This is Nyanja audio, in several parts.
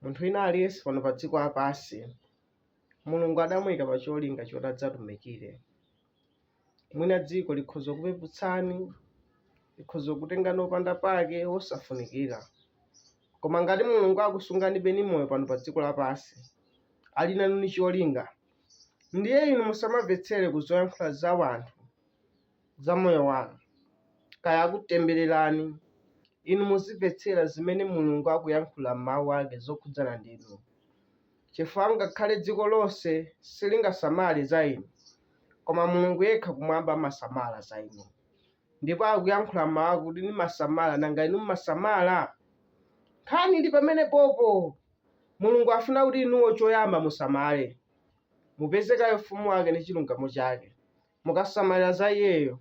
Munthu wina aliyense pano padziko lapansi, Mulungu adamuika pa cholinga choti adzatumikire. Mwina dziko likhoza kukupeputsani, likhoza kukutengani opanda pake, wosafunikira. Koma ngati Mulungu akusunganibe ni moyo pano padziko lapansi, ali nanu ni cholinga, ndiye inu musamamvetsere ku zoyankhula za wanthu. za moyo wanu. Kaya akutembererani, inu muzimvetsera zimene Mulungu akuyankhula m'Mawu ake zokhudzana ndi inu. Chifukwa ngakhale dziko lonse silingasamale za inu, koma Mulungu yekha kumwamba amasamala za inu. Ndipo akuyankhula m'Mawu ake kuti nimasamala, nanga inu mumasamala? Nkhani ili pamenepopo! Mulungu afuna kuti inuyo choyamba musamale. Mupeze kaye ufumu wake ni chilungamo chake, Mukasamalira za iyeyo,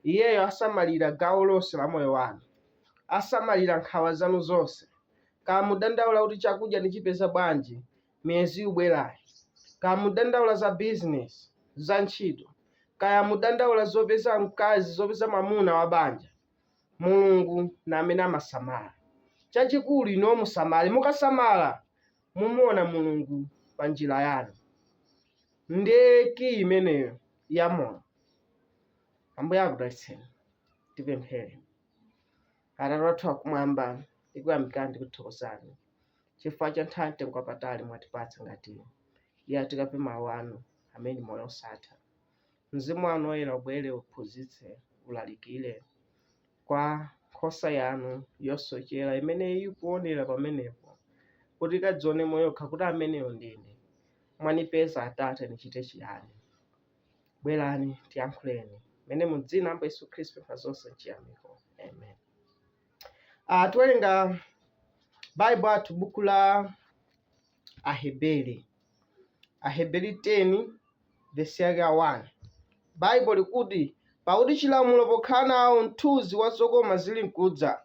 iyeyo asamalira gawo lonse la moyo wanu. Asamalira nkhawa zanu zonse. Kaya mudandaula kuti chakudya ndichipeza bwanji miyezi ikubwerayi, kaya mudandaula za bizinesi, za ntchito, kaya mudandaula zopeza mkazi, zopeza mwamuna wa banja, Mulungu ndi amene amasamala. Chachikulu inuyo musamale. Mukasamala, mumuona Mulungu pa njira yanu. Ndiye kiyi imeneyo ya moyo. Ambuye akudalitseni. Tipemphere. Atate wathu akumwamba, tikuyamikani tikuthokozani chifukwa cha nthawi mtengo wapatali mwatipatsa ngati iyi yakuti tikape mawu anu amene moyo osatha. Mzimu wanu woyera ubwere uphunzitse, ulalikire, kwa nkhosa yanu yosochera imene ikuonera pamenepo kuti ikadzionemo yokha kuti ameneyo ndine mwanipeza atate nichite chiyani bwerani tiyankhuleni mene mu dzina la ambuye yesu khristu pa zonse chiyamiko amen uh, tiwerenga baibo athu buku la Aheberi. Aheberi 10 vesi yake ya 1 baibo likuti pakuti chilamulo pokhala nacho mthunzi wa zokoma zili mkudza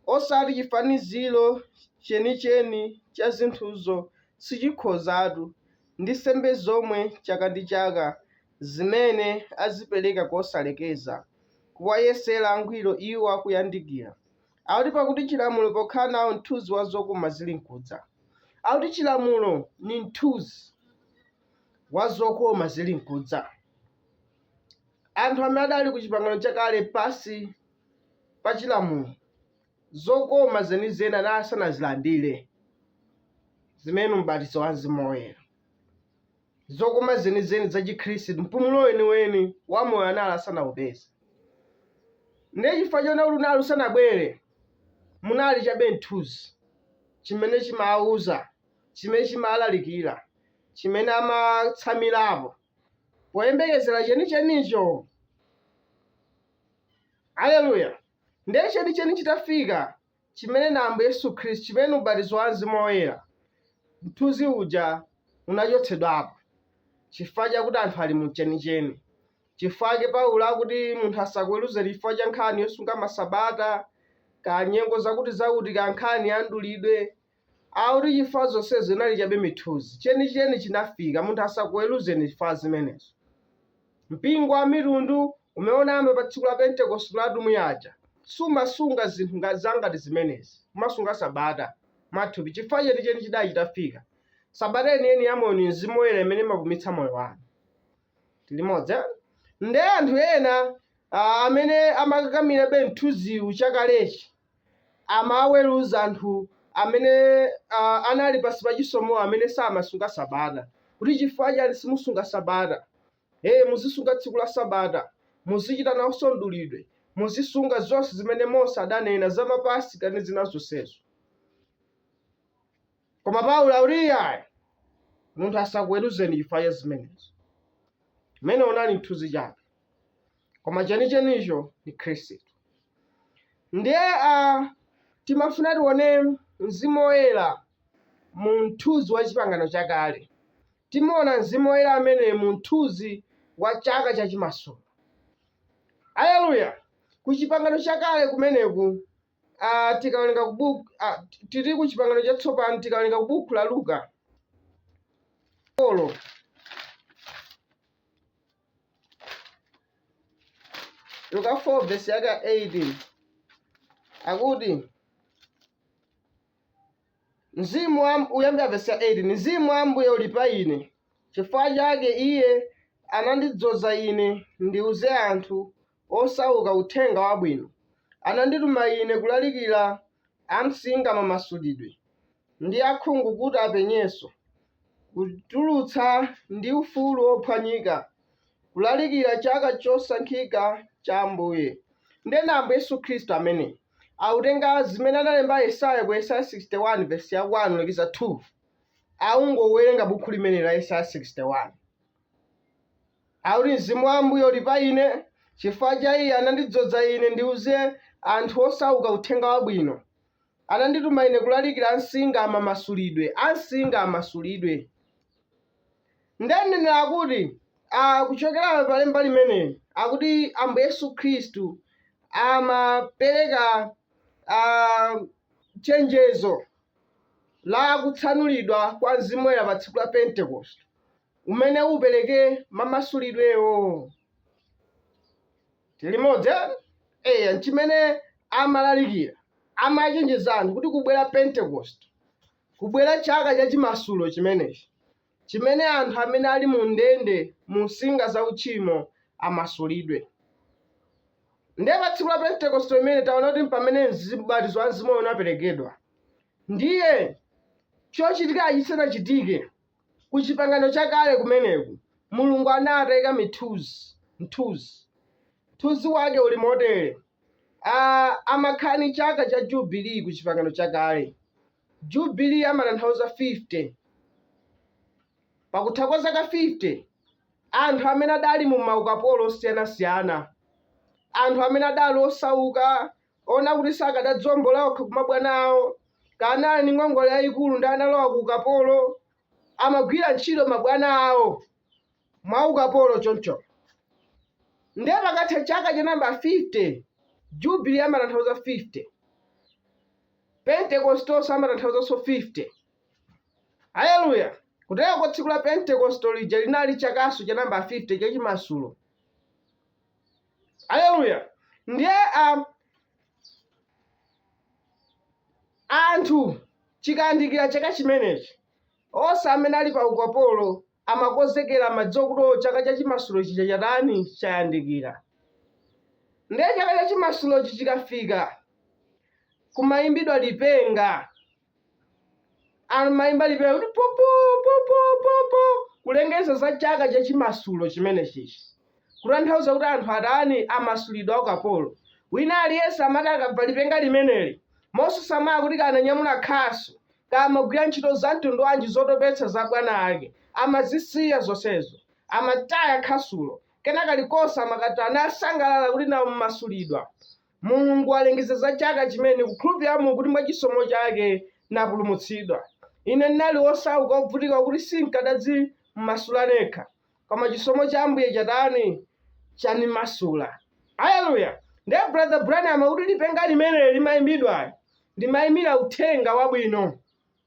osati chifaniziro chenicheni cha zinthuzo sichikhozatu ndi nsembe zomwe chaka ndi chaka zimene azipereka kosalekeza kuwayesera angwiro iwo akuyandikira Akuti pakuti chilamulo pokhala nawo mthunzi wa zokoma zili mkudza. Akuti chilamulo ni mthunzi wa zokoma zili mkudza. Anthu amene adali ku chipangano chakale pansi pa chilamulo, zokoma zenizeni anali asanazilandire, zimene ni ubatizo wa mzimu woyera. zokoma zenizeni za chikhristu mpumulo weniweni wa moyo anali asanaupeze ndiye chifukwa choona kuti unali usanabwere munali chabe mthunzi chimene chimawuza chimene chimalalikira chimene amatsamirapo poyembekezera chenichenicho aleluya ndiye chenicheni chitafika chimene ndi Ambuye Yesu Khristu, chimene ndi ubatizo wa Mzimu Woyera, mthunzi uja unachotsedwapo, chifukwa chakuti anthu ali mu chenicheni. Chifukwa chake Paulo akuti munthu asakuweruzeni chifukwa cha nkhani yosunga masabata, kaya nyengo zakuti zakuti, kaya nkhani ya mdulidwe, akuti chifukwa zonsezo inali chabe mithunzi, chenicheni chinafika, munthu asakuweruzeni chifukwa cha zimenezo. Mpingo wa Amitundu, umene unayamba pa Tsiku la Pentekoste la atumwi aja, sumasunga zinthu ngati, za ngati zimenezi, kumasunga sabata, mwathupi, chifukwa chenicheni chidali chitafika, sabata yeniyeni ya Moyo ndi Mzimu Woyera imene imapumitsa moyo wanu. Tili limodzi, eh? Nde anthu ena, a, amene amakakamirabe mthunziwu chakalechi, amaweruza anthu amene uh, anali pansi pa chisomo amene samasunga sabata kuti chifukwa chani simusunga sabata hey, muzisunga tsiku la sabata muzichita nawonso mdulidwe muzisunga zonse zimene mose adanena za mapasika ndi zina zonsezo koma paulo akuti ayi munthu asakuweruzeni chifukwa cha zimenezo umene unali mthunzi chabe koma chenichenicho ndi khristu ndiye a timafuna tione mzimu woyera mu mthunzi wa chipangano chakale timaona mzimu woyera amene mu mthunzi wa chaka cha chimasulo aleluya ku chipangano chakale kumeneku ah, tikawerenga kubuku ah, tili ku chipangano chatsopano tikawerenga kubuku la luka 4 luka 4 vesi yake ya 18 akuti mzimu wa kuyambira vesi ya 18 mzimu wa ambuye uli pa ine chifukwa chake iye anandidzoza ine ndiuze anthu osauka Uthenga Wabwino, anandituma ine kulalikira amsinga mamasulidwe, ndi akhungu kuti apenyenso, kutulutsa ndi ufulu wophwanyika, kulalikira chaka chosankhika cha Ambuye. Ndiye ndi Ambuye Yesu Khristu ameneyo akutenga zimene analemba Yesaya ku Yesaya 61 vesi ya 1 kulekiza 2, akungowerenga bukhu limeneli la Yesaya 61. Akuti, Mzimu wa Ambuye uli pa ine, chifukwa cha Iye anandidzodza ine ndiuze anthu osauka uthenga wabwino. Anandituma ine kulalikira ansinga mamasulidwe, ansinga amasulidwe. Nde ndinanena kuti, a, kuchokera pa lemba limeneli, akuti Ambuye Yesu Khristu amapereka a, chenjezo la kutsanulidwa kwa Mzimu Woyera pa tsiku la Pentekoste. umene upereke mamasulidwewo. Tilimodzi eh? Eya, nchimene amalalikira. Amachenjeza anthu kuti kubwera Pentecost, kubwera chaka cha chimasulo chimenechi, chimene anthu amene ali mu ndende mu nsinga za uchimo amasulidwe. Ndiye pa tsiku la Pentecost imene taona kuti mpamene ubatizo wa mzimu unaperekedwa. Ndiye chochitika chisanachitike, Ku Chipangano Chakale kumeneku, Mulungu anali ataika mithunzi, mthunzi. Mthunzi Wake uli motere, a, amakhala ndi chaka cha jubilee ku Chipangano Chakale. Jubilee amatanthauza 50. Pakutha kwa zaka 50, anthu amene adali mu maukapolo osiyanasiyana, anthu amene adali osauka, woti sakadadzombola okha kumabwana awo kana ali ndi ngongole yayikulu ndi analowa ku ukapolo amagwira ntchito mabwana awo mwa ukapolo choncho nde pakatha chaka cha namba 50 jubili amatanthauza 50 pentekostoso amatanthauzaso 50 haleluya kutereku tsiku la pentekosto lija linali chakaso cha namba 50 chachimasulo Aleluya! Ndiye a, anthu chikayandikira chaka chimenechi, onse amene ali pa ukapolo amakonzekera, amadziwa kuti o chaka cha chimasulo chija chatani, chayandikira. Ndiye chaka cha chimasulochi chikafika, kumayimbidwa lipenga. amaimba lipenga kuti popo popo popo kulengeza za chaka cha chimasulo chimenechichi kutanthauza kuti anthu atani amasulidwa akapolo wina aliyense amati akamva lipenga limeneli mosasamala kuti kananyamula khasu kamagwira ntchito za mtundu wanji zotopetsa za bwana ake amazisiya zonsezo amataya khasulo kena kalikonse amakatana asangalala kuti nawo mmasulidwa Mulungu walengeza za chaka chimene ndikukhulupirira mu kuti mwa chisomo chake napulumutsidwa. Ine ndinali wosauka wobvutika wakuti sinkadadzimasula nekha, koma chisomo cha Ambuye chatani? chanimasula. Aleluya! Ndiye Brother Branham akuti lipenga limene limaimbidwali limaimira Uthenga Wabwino.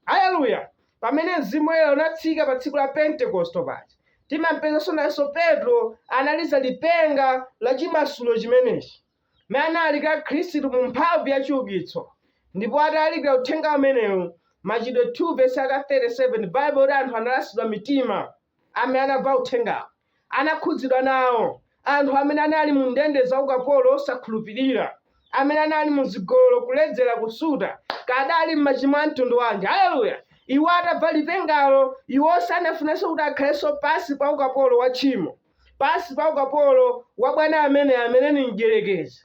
Aleluya! Pamene Mzimu Woyera unatsika pa tsiku la Pentekosto paja, timampezanso nayenso Petro analiza lipenga la chimasulo chimenechi. mene analalikira Khristu mu mphamvu ya chiukitso, ndipo atalalikira uthenga umenewu, Machitidwe 2 vesi yake 37 Baibulo likuti anthu analasidwa mitima, amene anamva uthengawo, anakhudzidwa nawo, anthu amene anali mu ndende za ukapolo osakhulupirira, amene anali mu zigololo, kuledzera, kusuta, kaya adali m'machimo a mtundu wanji, haleluya, iwo atamva lipengalo, iwo sanafunenso kuti akhalenso pansi pa ukapolo wa tchimo. pansi pa ukapolo wa bwana amene amene ni mdyerekezi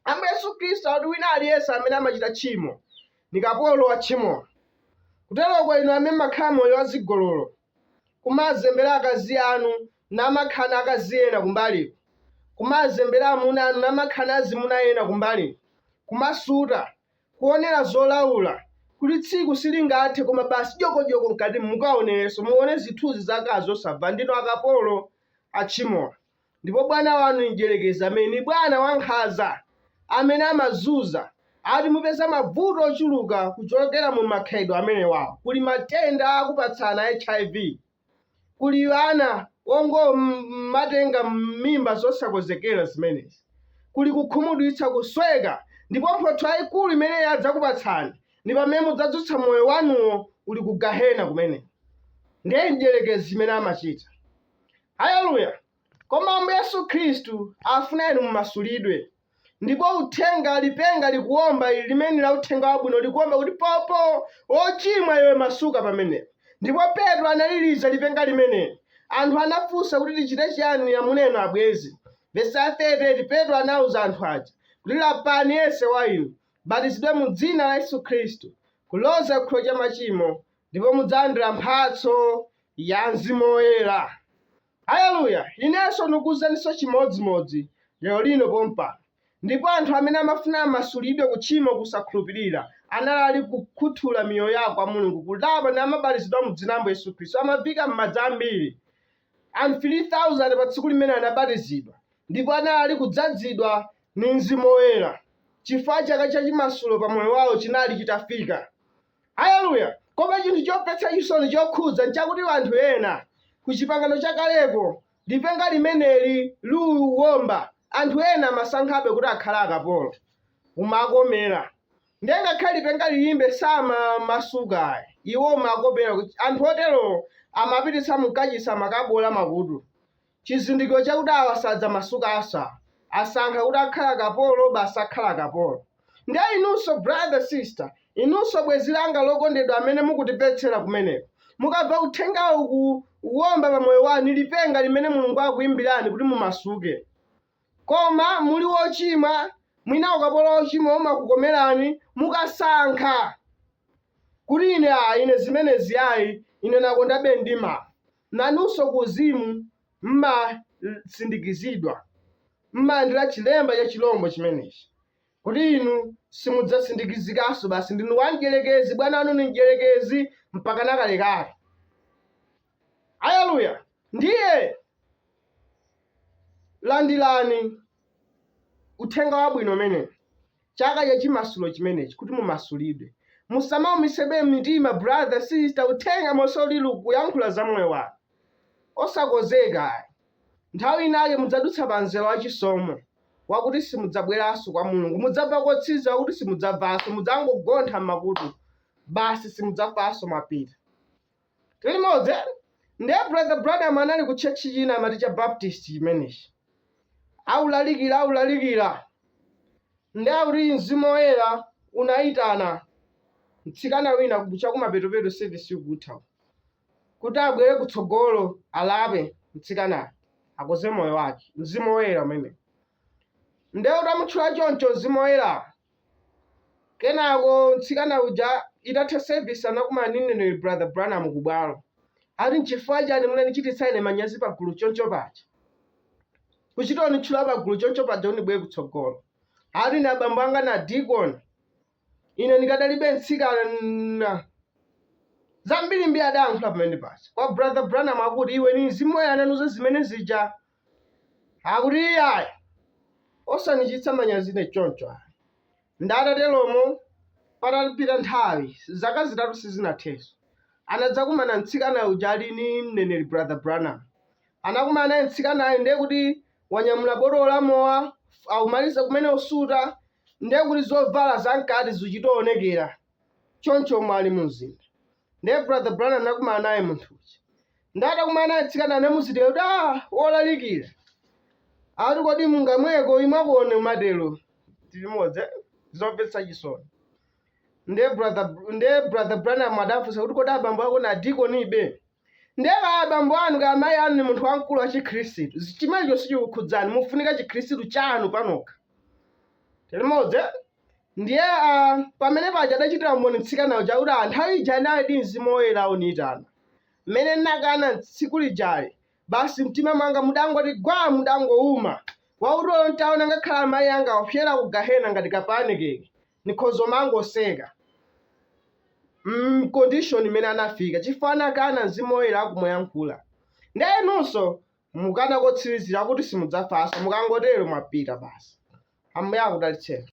ambuye yesu khristu akuti wina aliyense amene amachita tchimo ni kapolo wa tchimolo kuteroko inu amene mumakhala moyo wa zigololo kumazembera akazi anu namakhala ndi akazi ena kumbaliko kumazembera amuna anu namakhala ndi azimuna ena kumbaliko kumasuta kuonera zolaula, kuti tsiku silingathe koma basi dyokodyoko mkatimu mukaonerenso, muone zithunzi za akazi osavala, ndinu akapolo a tchimo ndipo bwana wanu ni mdyerekezi amene ni bwana wankhanza amene amazunza, ati mupeza mabvuto ochuluka kuchokera mu makhalidwe amenewo, kuli matenda akupatsana a HIV. Kuli ana ongomatenga mimba zosakonzekera zimenezi. Kuli kukhumudwitsa, kusweka, ndipo mphotho yaikulu imene iye adzakupatsani ndi pamene mudzadzutsa moyo wanuwo uli ku Gahena kumeneko. Ndiye mdyerekezi zimene amachita. Aleluya! Koma Ambuye Yesu Khristu afuna inu mumasulidwe. Ndipo uthenga, lipenga likuwomba ili limene la uthenga wabwino likuwomba kuti popo, wochimwa iwe masuka pamenepo. Ndipo Petro analiliza lipenga limeneli. Anthu anafunsa kuti tichite chiyani amuna inu abwenzi. Vesi ya 38 Petro anauza anthu aja kuti lapani yense wa inu, mubatizidwe mu dzina la Yesu Khristu, kuloza ku chikhululukiro cha machimo, ndipo mudzalandira mphatso ya Mzimu Woyera. Aleluya! Inenso ndikukuuzaninso chimodzimodzi, lero lino pompano. Ndipo anthu amene amafuna amasulidwe ku tchimo kusakhulupirira, anali ali kukhuthula miyoyo yawo kwa Mulungu, kulapa namabatizidwa mu Dzina la Ambuye Yesu Khristu, amaviika m'madzi ambiri. Anthu 3,000 pa tsiku limenelo anabatizidwa, ndipo anali ali kudzadzidwa ndi Mzimu Woyera, chifukwa chaka cha chimasulo pa moyo wawo chinali chitafika. Aleluya! Koma chinthu chomvetsa chisoni chokhudza nchakuti anthu ena ku Chipangano Chakaleko lipenga limeneli liuwomba, anthu ena amasankhabe kuti akhale akapolo. Umawakomera. Ndiye ngakhale lipenga liimbe samamasuka ayi. Iwo umawakomera. Anthu otero amapititsa mu kachisi amakabowola makutu. Chizindikiro chakuti awa sadzamasukanso asankha kuti akhale akapolo basi akhala akapolo. Ndiye inunso brother, sister, inunso bwenzi langa lokondedwa amene mukutimvetsera kumeneko, mukamva uthengawu ukuwomba pa moyo wanu ndi lipenga limene Mulungu akuimbirani kuti mumasuke. Koma muli wochimwa, mwina ukapolo wa uchimo umakukomerani, mukasankha kuti ine ayi, ine zimenezi ayi, ine nakondabe ndimwa. Nanunso kuuzimu mmasindikizidwa, mmalandira chilemba cha chirombo chimenechi, kuti inu simudzasindikizikanso basi. Ndinu wa Mdyerekezi, bwana wanu ndi Mdyerekezi mpakana kalekale. Aleluya! Ndiye landirani Uthenga Wabwino umenewu, chaka cha chimasulo chimenechi, kuti mumasulidwe. Musamaumitsebe mitima, brother, sister, uthenga monse ulili ukuyankhula za moyo wanu. Osakozeka ayi. Nthawi inayake mudzadutsa pa mzere wa chisomo, wakuti simudzabweranso kwa Mulungu. Mudzamva kotsiriza wakuti simudzamvanso, mudzangogontha m'makutu, basi simudzamvanso mwapita. Tili limodzi eti? Nde Brother Branham anali ku church china amati cha Baptist chimenechi. Aulalikira, aulalikira. Nde akuti Mzimu Woyera unaitana mtsikana wina ku- chakumapetopeto service ikutha uko. kuti abwere kutsogolo alape mtsikanayo akoze moyo wake. Mzimu Woyera umene. Nde utamutchula choncho Mzimu Woyera Kenako mtsikana uja itatha service anakumana ndi mneneri Brother Branham ku bwalo. Ati nchifukwa chiyani munanichititsa ine manyazi pa gulu choncho paja? Kuchita unitchula pa gulu choncho paja unibwere kutsogolo. Ati ine abambo anga na deacon. Ine nikadalibe mtsikana. Zambiri mbiri adayankhula pamene paja. Kwa Brother Branham akuti iwe ni mzimu woyera ananuza zimene zija. akuti iyayi osanichititsa manyazi ine choncho ayi nde atateromo patapita nthawi zaka zitatu sizinatheso anadzakumana mtsikana uja ali ni mneneri brother branham anakumana naye mtsikanayo ndiye kuti wanyamula botolo la mowa akumaliza kumene usuta ndiye kuti zovala zamkati zichitoonekera choncho mwali mu mzinda ndiye brother branham anakumana naye munthu uja ndiye atakumana naye mtsikana anamuuziratu kuti a wolalikira ati kodi mungamweko imwa koma umatero tilimodzi eh? zomvetsa chisoni ndiye brother ndiye brother branham adafunsa kuti kodi abambo ako ndi dikonibe ndiye kaya abambo anu kaya mayi anu ni munthu wamkulu wa chikhristu chimenecho sichikukhudzani mufunika chikhristu chanu panokha tilimodzi eh? Ndiye a, pamene paja adachitira umboni mtsikana uja kuti a, nthawi ija analidi Mzimu Woyera ukundiyitana. Mmene ndinakana tsiku lijali, basi mtima mwanga mudangoti gwaa mudangouma. Wakuti olo nditaona ngakhale amayi anga akupsera ku Gahena ngati ka pancake, ndikhoza kumangoseka. mm, condition imene anafika chifukwa anakana Mzimu Woyera akumuyankhula. Ndiye inunso mukana kotsirizira kuti simudzafanso, mukangotero mwapita basi. Ambuye akudalitseni.